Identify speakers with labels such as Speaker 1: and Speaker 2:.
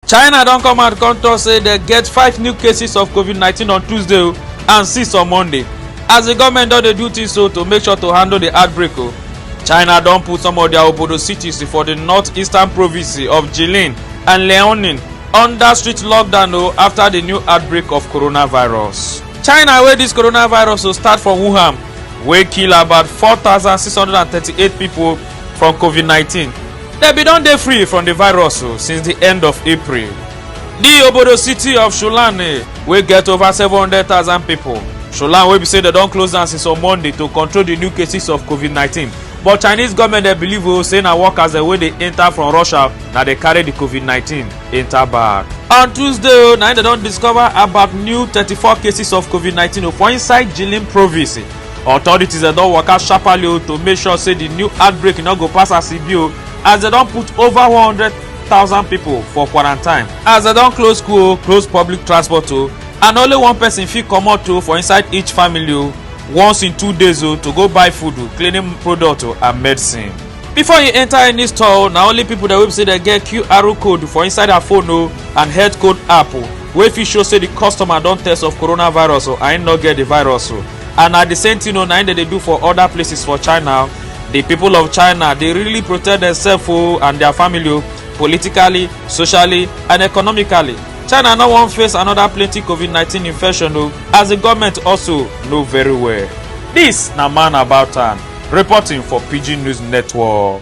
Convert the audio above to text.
Speaker 1: china don come out come tok say dem get five new cases of covid-19 on tuesday o and six on monday as di goment don dey do tins so to make sure to handle di outbreak o china don put some of dia obodo cities for di north-eastern province of jilin and liaoning under strict lockdown o afta di new outbreak of coronavirus china wey dis coronavirus o start for wuhan wey kill about 4638 pipo from covid-19 dem bin don dey free from di virus o since di end of april di obodo city of shulane wey get over 700000 pipo shulane wey be say dem don close down since on monday to control di new cases of covid-19 but chinese goment dey believe o say na workers dem wey dey enta from russia na dey carry di covid-19 enta back on tuesday o na im dem don discover about new 34 cases of covid-19 for inside jilin province authorities dem don waka sharparly o to make sure say di new outbreak no go pass as e be o as dem don put over one hundred thousand pipo for quarantine as dem don close school o close public transport o and only one person fit comot o for inside each family o once in two days o to go buy food o cleaning product o and medicine before you enter any store o na only pipo dem wey be say dem get qr code for inside her phone o and health code app o wey fit show say di customer don test of coronavirus o and im no get di virus o and na di same thing o na im dem dey do for oda places for china di pipo of china dey really protect demsef o and dia family o politically socially and economically china no wan face anoda plenty covid nineteen infection o as di goment also know very well dis na man about am reporting for pidgin news network.